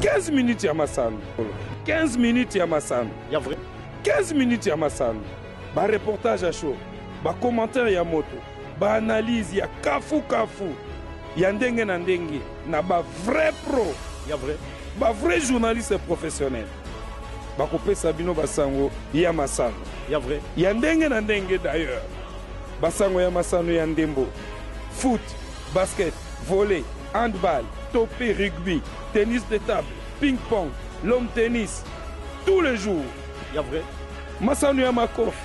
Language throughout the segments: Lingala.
15 minutes ya masano 15 minutes ya masano 15 minutes ya masano bareportage ya show bacommentaire ya moto baanalyse ya kafukafu ya ndenge na ndenge na bavrai pro bavrai journaliste professionnel bakopesa bino basango ya masano ya ndenge na ndenge d'ailleurs basango ya masano ya ndembo foot basket, volley, handball, tope, rugby, tennis de table, ping pong, lawn tennis, tous les jours. Ya vrai. Masano ya makofi,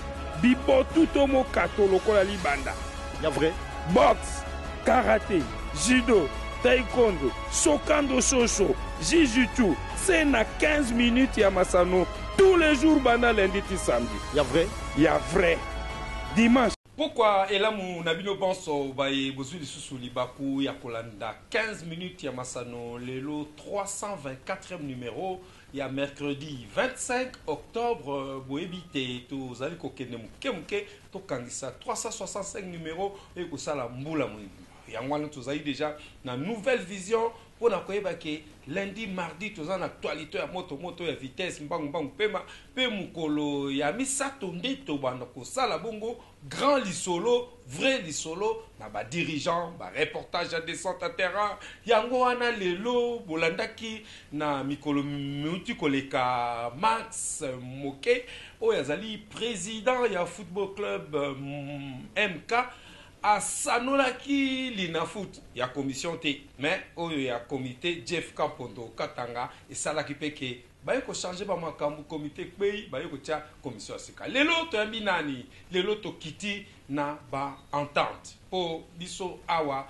bibotu to mokato lokola libanda. Ya vrai. Boxe, karate, judo, taekwondo, sokando soso, jujutsu, c'est na 15 minutes ya masano tous les jours banda lundi ti samedi. Ya vrai. Ya vrai. Dimanche Pokwa elamu na bino banso baye bozui lisusu libaku ya kolanda 15 minutes ya masano lelo 324 numero ya mercredi 25 octobre boyebi te tozali kokende moke moke tokangisa 365 numero eye kosala mbula moye yango wana tozali deja na nouvelle vision Pona koyeba ke lundi, mardi toza na actualite ya moto moto ya vitesse mbangu mbangu pema pe mokolo ya misato nde tobanda kosala bongo grand lisolo vrai lisolo na ba dirigeants ba reportages ya descente ya terrain yango wana lelo bolandaki na mikolo miuti koleka Max Moke oyo azali president ya football club MK Asanolaki Linafoot ya commission te mais oyo ya comite Jeff Kampondo Katanga esalaki pe que baye ko changer ba makambu comite ekweyi baye kotia commission ya sika lelo toyambi nani? Lelo tokiti na ba entente po biso awa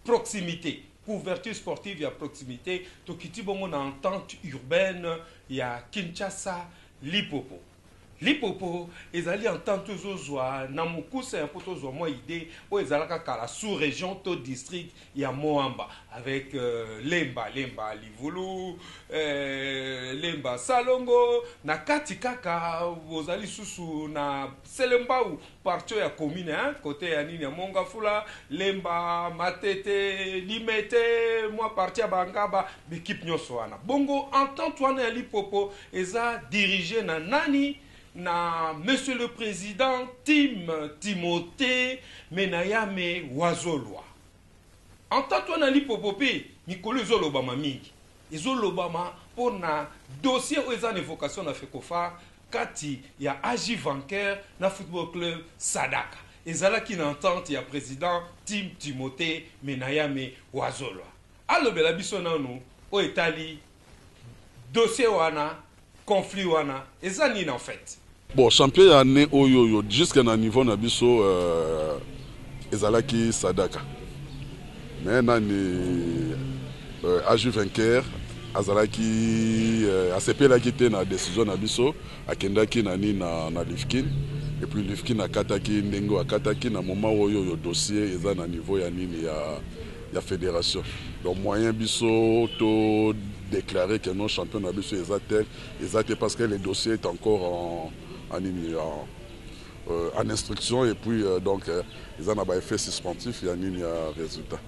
proximite couverture sportive ya proximite tokiti bongo na entente urbaine ya Kinshasa Lipopo. Lipopo ezali entente ozo zua na mukuse po tozua mua idee oyo ezalaka kala sous region to district ya Moamba avec Lemba, Lemba Livulu, Lemba Salongo na kati kaka oza lisusu na Selembao partie ya commune hein cote ya nini ya Mongafula, Lemba, Matete, Limete mua partie ya ba Ngaba ba equipe nionso wana bongo entente wana ya Lipopo Eza dirige na nani? Na monsieur le president Tim Timothe Menayame Wazolwa. Entente wana ya Lipopo pe mikolo ezo lobama mingi. Ezo lobama po na dossier oyo eza na evocation na Fecophar kati ya AJ Vancquer na football club Sadaka. Ezalaki na entente ya president Tim Timothe Menayame Wazolwa. Alobela biso nanu oyo etali Dossier wana, conflit wana eza nini en fait? Bon champion ya annee oyoyo jusque na niveau na biso euh, ezalaki sadaka mais nani euh, aju vainqueur azalaki euh, asepelaki te na decision na biso akendaki na nini na, na lifkin et puis lifkin akataki ndenge akataki na moment oyoyo dossier eza na niveau ya nini ya ya federation donc moyen biso to declare que non champion na biso eza tel eza te parce que le dossier est encore en nini en euh, en instruction et puis euh, donc euh, ils en ont effet suspensif ya nini ya résultat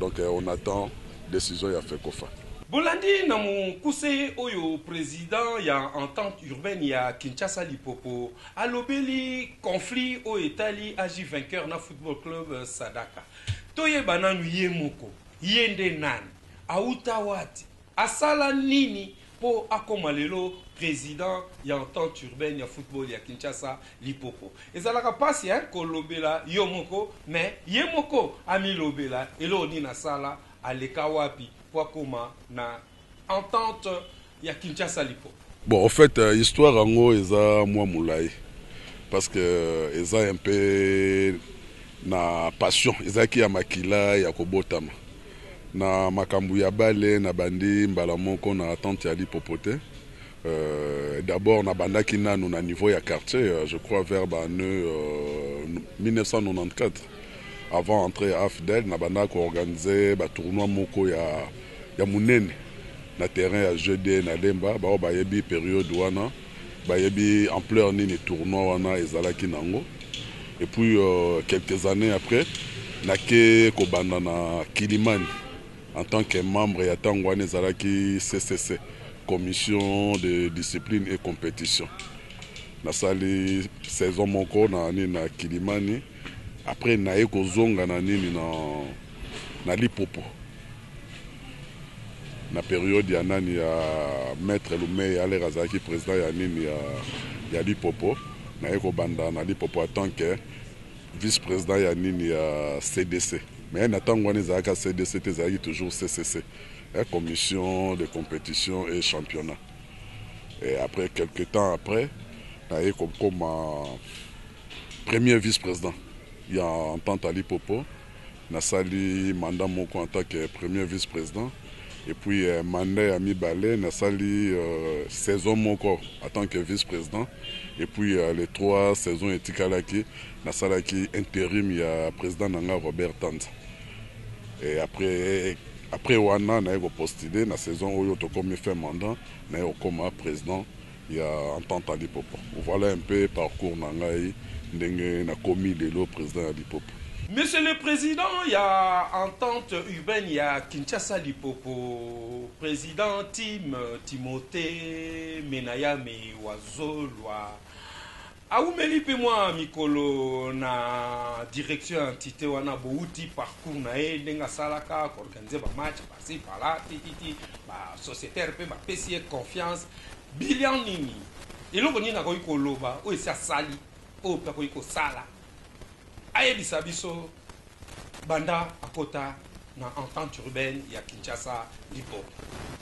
donc euh, on attend décision ya fekofa bolandi na mokuse oyo président ya entente urbaine ya kinshasa lipopo alobeli conflit oyo etali agi vainqueur na football club euh, sadaka Toyeba nanu ye moko ye nde nani? Awuta wati? Asala nini po akoma lelo president ya entente urbaine ya football ya Kinshasa Lipopo? Ezalaka pasi hein kolobela yo moko mais ye moko amilobela eloko nini asala, aleka wapi po akoma na Entente ya Kinshasa Lipo. Bon au fait histoire yango eza mua mulayi parce que eza un peu na passion ezalaki ya makila ya kobotama na makambu ya bale na bandi mbala moko na tante ya lipopote d'abord na bandaki nanu na niveau ya quartier je crois vers ba annee 1994 Avant entree ya Afdl, nabandaka ko organiser ba tournois moko ya munene na terrain ya jeux de na Lemba. Baoyo bayebi periode wana bayebi ampleur nini tournoi wana ezalaki nango. Et puis quelques annees après, nake kobanda na Kilimani en tant que membre ya tango wana ezalaki CCC, Commission de discipline et competition. Nasali saison moko na nini, na Kilimani. Après naye kozonga na nini na na lipopo na periode ya nani ya maitre lumey aller azalaki president ya nini ya ya lipopo naye kobanda na lipopo a tant que vice president ya nini ya cdc mais na tango wana ezalaka cdc te ezalaki toujours ccc commission de competition et championnat Et après quelques temps après na ye ko koma premier vice president ya entente Ali Popo na sali mandat moko en tant que premier vice president et puis euh, mandat ya mibale na sali euh, saison moko en tant que vice president et puis euh, les trois saisons etikalaki na salaki interim ya president na nga Robert Tanza Après wana naye ko postuler na saison oyo tokomi fin mandat naye kokoma president ya entente ya Lipopo. Voilà un peu parcours na ngai ndenge nakomi lelo president ya Lipopo. Monsieur le President ya entente urbaine ya Kinshasa Lipopo, President Tim Timothee Menayame Wazolwa, Awumeli mpe mwa mikolo na direction ya entite wana, bowuti parcours na ye, ndenge asalaka, ko organiser ba matchs par ci par là, ti ti ti, ba societaires mpe bapesi ye confiance. Bilan nini? Eloko nini akoki koloba oyo esi asali, oyo mpe akoki kosala? Ayebisa biso. Banda akota na entente urbaine ya Kinshasa Liboke,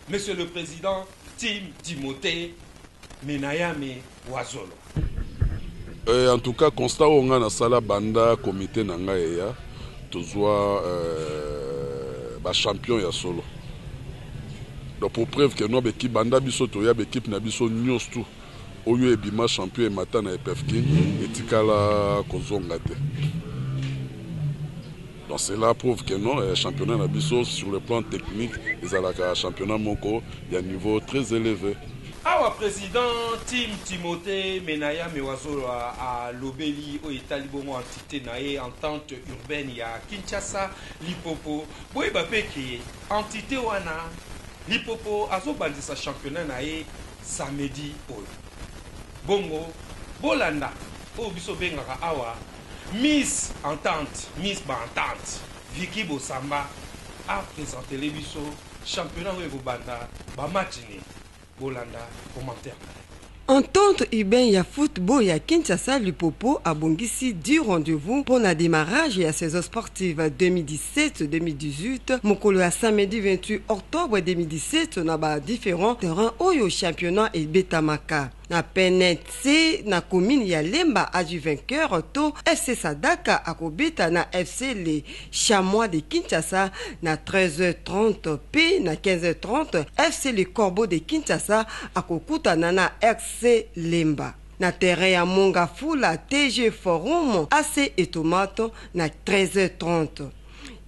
Monsieur le President Tim Timothee Menayame Wazolo. Eh, en tout cas constat oyo ngai nasala banda comite na ngai eya, tozwa eh, ba champion ya solo donc pour preuve que no beki banda biso toya bekipe na biso nyos tout Oyo ebima champion emata na epfkin etikala kozonga te donc cela prouve que non championnat na biso sur le plan technique ezalaka championnat moko ya niveau très eleve. Awa president Tim Timothe Menaya Mewazolwa alobeli oyo etali bongo entite na ye Entente urbaine ya Kinshasa Lipopo, boyeba mpe que entite wana Lipopo azobandisa championnat na ye, samedi oyo bongo bolanda oyo biso obengaka awa miss entente miss ba entente vicky bosamba a presentele biso championnat oyo ekobanda ba match nini bolanda commentaire na ye. Entente urbaine ya football ya Kinshasa, Lupopo abongisi dix rendez-vous mpo na demarrage ya saison sportive. Ti ba 2017, 2018, mokolo ya samedi 28 octobre 2017 na ba differents terrains oyo championnat ebetamaka. Na PNC na commune ya Lemba azwi vainqueur to FC Sadaka akobeta na FC Les Chamois de Kinshasa na 13h30 mpe na 15h30 FC Les Corbeaux de Kinshasa akokutana na RC Lemba. na terrain ya Monga Fula TG Forum AC Etomat na 13h30.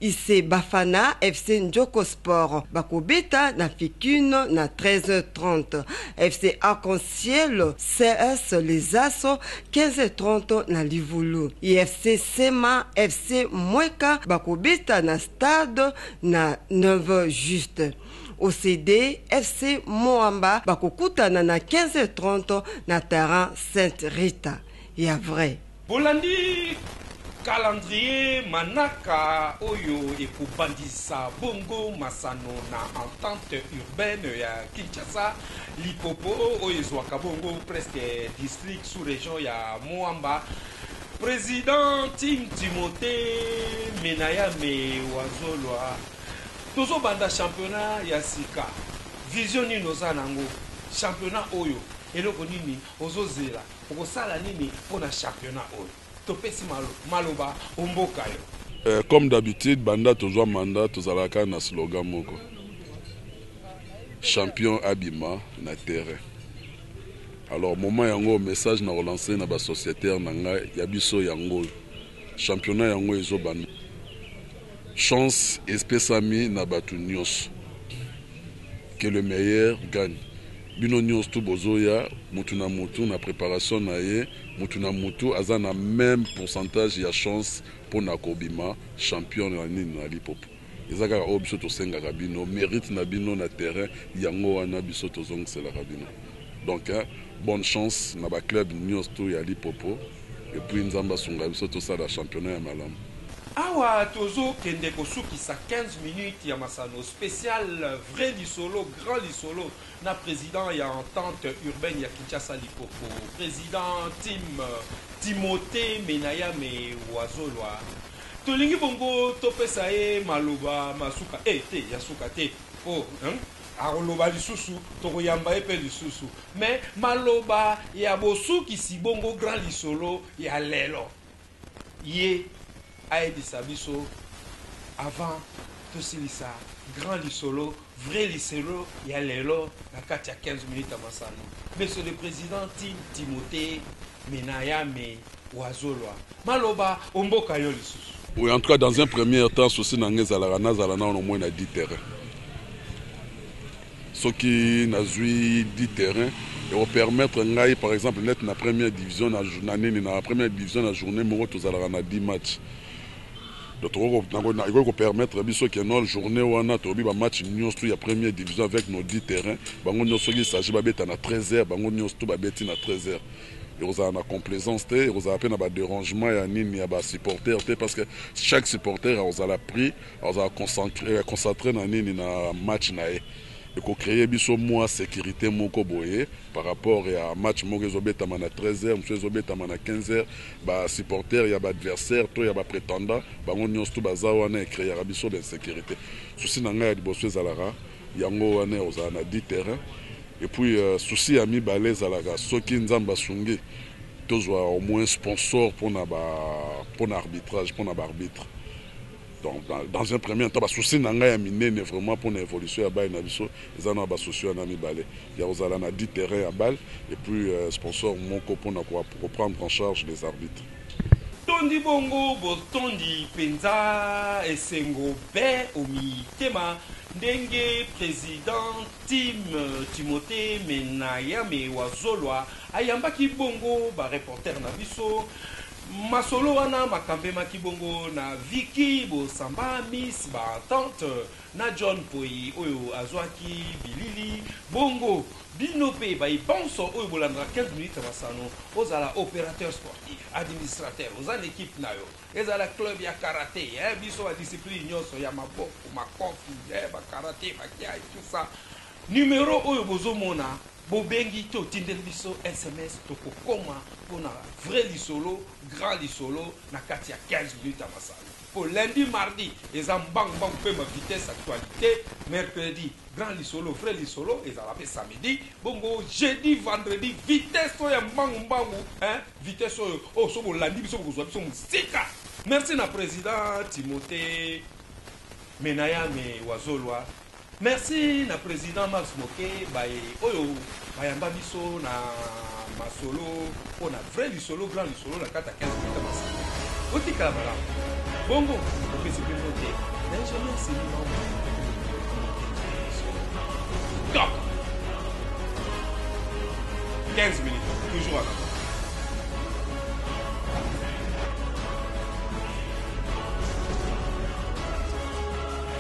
Ic Bafana FC Ndjoko Sport bakobeta na Ficun na 13h30. FC Arc-en-Ciel CS Les As 15h30 na Livulu. IFC Sema FC Mweka bakobeta na Stade na 9h juste. OCD FC Moamba bakokutana na 15h30 na terrain Sainte Rita ya vrai. Bolandi calendrier manaka oyo ekobandisa bongo masano na entente urbaine ya Kinshasa Lipopo oyo ezwaka bongo presque district sous region ya Moamba. President Tim Timothee Menayame Wazolwa. Tozo banda championnat ya sika vision nini oza nango championnat oyo eloko nini ozo zela okosala nini pona championnat oyo topesi maloba ombokayo. Comme d'habitude banda tozua mandat tozalaka kaka na slogan moko champion abima na terrain alors moment yango message nako lance na ba societaire na ngai ya biso yango oyo. Championnat yango ezo banda. Chance espesami na batu nionso. Que le meilleur gagne. Bino nionso tout bozo ya, mutu na mutu na preparation na ye, mutu na mutu aza na meme pourcentage ya chance pona ko bima champion na nini na lipopo. Eza kaka oyo biso tosengaka bino merite na bino na terrain yango wana biso tozongiselaka bino donc bonne chance na ba club niosto ya lipopo et puis nzambe asunga biso tosala championnat ya malamu. Awa tozo kende ko sukisa 15 minutes ya masano special vrai lisolo grand lisolo na president ya entente urbaine ya Kinshasa lipopo president Tim Timothe Menayame Wazolwa. Tolingi bongo topesa ye maloba ma suka? Eh te, ya suka te po hum akoloba lisusu, tokoyamba ye pe lisusu mais maloba ya bosukisi bongo grand lisolo ya lelo ye ayebisa biso avant tosilisa grand lisolo. Vrai lisolo ya lelo na kati ya 15 minutes ya masano. Monsieur le President Tim Timothe Menayame Wazolwa maloba o mboka yo lisusu. Oui, en tout cas, dans un premier temps, souci na nga ezalaka nazala nano moins na 10 terrain. Soki nazui 10 terrain, eko permettre ngai par exemple net na première division na na nini na première division na journee moko tozalaka na 10 matchs. Donc toko ko nako na ekoki ko permettre biso que nol journee wana tolobi ba match nionso tout ya premier division avec nos 10 terrains bango nionso soki il s'agit ba beta na 13 heures bango nionso tout ba beti na 13 heures ekozala na complaisance te ekozala pe na ba derangement ya nini ya ba supporters te parce que chaque supporter akozala pris akozala concentre eh, concentre na nini na match na ye eko cree biso mua securite moko boye par rapport ya match moko ezo betama na 13 heures mosusu ezo betama na 15 heures ba supporteurs ya ba adversaires to ya ba pretendants bango nionso tout baza wana e creaka biso ba insecurite souci na ngai ya liboso ezalaka yango wana ya kozala na dit terrain et puis souci ya mibale ezalaka soki nzambe asungi tozua au moins sponsor pona ba pona arbitrage pona ba arbitres. Donc dans, dans un premier temps basusi na ngai ya minene vraiment mpo na évolution ya bale na biso eza na basusi wana mibale ya kozala na dit terrain ya bale et puis euh, sponsor moko mpo na koprendre en charge les arbitres. Tondi bongo botondi mpenza esengo be omitema ndenge president Tim Timote Menayame Wazolwa ayambaki bongo ba reporter na biso Masolo wana makambemaki bongo na Vicky Bosamba, Miss ba Ententes, na John Mpoyi oyo azwaki bilili. Bongo bino mpe baye banso oyo bolandaka 15 minutes ya masano, ozala operateur sportif, administrateur, oza na equipe na yo, ezala club ya karate, eh biso ba disciplines nionso ya maboko, makofi, eh ba karate, ba kiai, tout ça, numero oyo bozomona, Bobengi to tindeli biso sms toko koma pona vrai lisolo grand lisolo na kati ya 15 minutes ya masano po lundi mardi eza mbangu mbangu pema vitesse actualite mercredi grand lisolo vrai lisolo ezala pe samedi bongo jeudi vendredi vitesse oyo ya mbangu mbangu hein vitesse oyo oyo soki bolandi biso bokozua biso musika merci na president Timothee Menayame Wazolwa. Merci na president Mars Moke baye oyo bayamba biso na masolo po na vrai lisolo grand lisolo na kati ya 15 minutes ya masolo. Botikala malamu. Bongo bopesi pe mbote na ingenieur Sylvie Maunga Top! 15 minutes toujours en avant.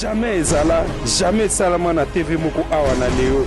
Jamais ezala jamais esalama na TV moko awa na Leo.